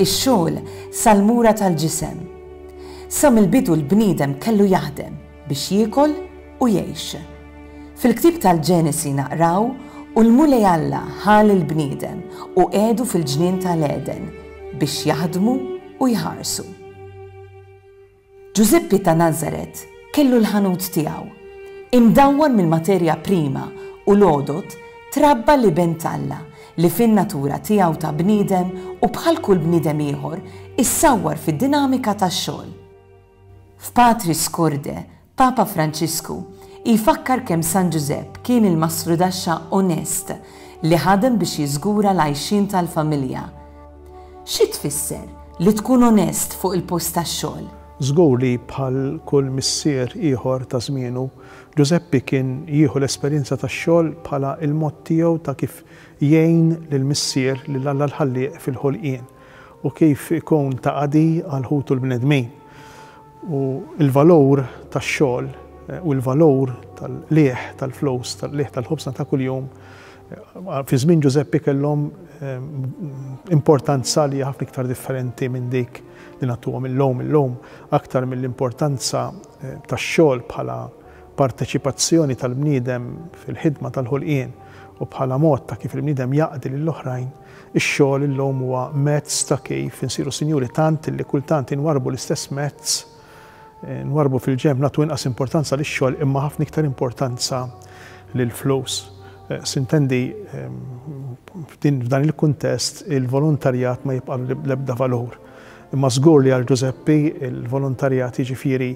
ix-xogħol sal-mura tal-ġisem. Sa mill-bidu l-bniedem kellu jaħdem biex jiekol u jgħix. Fil-ktieb tal-Ġenesi naqraw u l-Mulej Alla ħa lill-bniedem u qiegħdu fil-ġnien tal-Għeden biex jaħdmu u jħarsu. Ġużeppi ta' Nazaret kellu l-ħanut tiegħu. Imdawwar mill-materja prima u l-għodod, trabba l-Iben t'Alla, li fin-natura tiegħu ta' bniedem u bħal kull bniedem ieħor issawwar fid-dinamika tax-xogħol. F'Patris Corde, Papa Franċisku jfakkar kemm San Ġużepp kien il-mastrudaxxa onest li ħadem biex jiżgura l-għajxien tal-familja, Xi tfisser li tkun onest fuq il-post tax-xogħol? Żgur li bħal kull missier ieħor ta' żmienu, Ġużeppi kien jieħu l-esperjenza tax-xogħol bħala l-mod tiegħu ta' kif jgħin lil Missier, lil Alla l-Ħallieq fil-ħolqien, u kif ikun ta' qadi għal ħutu l-bnedmin. U l-valur tax-xogħol u l-valur tal-qligħ tal-flus, tal-qligħ tal-ħobżna ta' kuljum, Fi żmien Ġużeppi kellhom importanza li ħafna iktar differenti minn dik li nagħtuhom illum. Illum aktar mill-importanza tax-xogħol bħala parteċipazzjoni tal-bniedem fil-ħidma tal-ħolqien u bħala mod ta' kif il-bniedem jaqdi lill-oħrajn, ix-xogħol illum huwa mezz ta' kif insiru sinjuri tant li kultant inwarrbu l-istess mezz nwarrbu fil-ġenb, nagħtu inqas importanza lix-xogħol imma ħafna iktar importanza lill-flus. Sintendi, f'dan il-kuntest il-volontarjat ma jibqa' l-ebda valur. Imma żgur li għal Ġużeppi l-volontarjat jiġifieri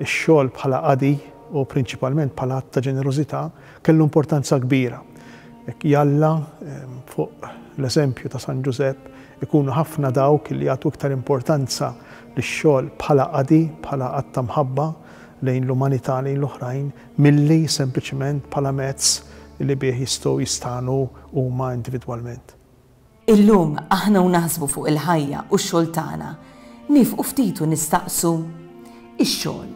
x-xogħol bħala qadi u prinċipalment bħala att ta' ġenerożità kellu importanza kbira. Jalla fuq l-eżempju ta' San Ġużepp ikunu ħafna dawk li jagħtu iktar importanza ix-xogħol bħala qadi, bħala att ta' mħabba lejn l-umanità, lejn l-oħrajn, milli sempliċement bħala mezz li bih jistgħu jistagħnu huma individwalment. Illum, aħna u naħsbu fuq il-ħajja u x-xogħol tagħna, niefqu ftit u nistaqsu, Ix-xogħol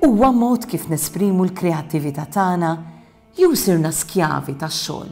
huwa mod kif nesprimu l-kreattività tagħna? Jew sirna skjavi tax-xogħol?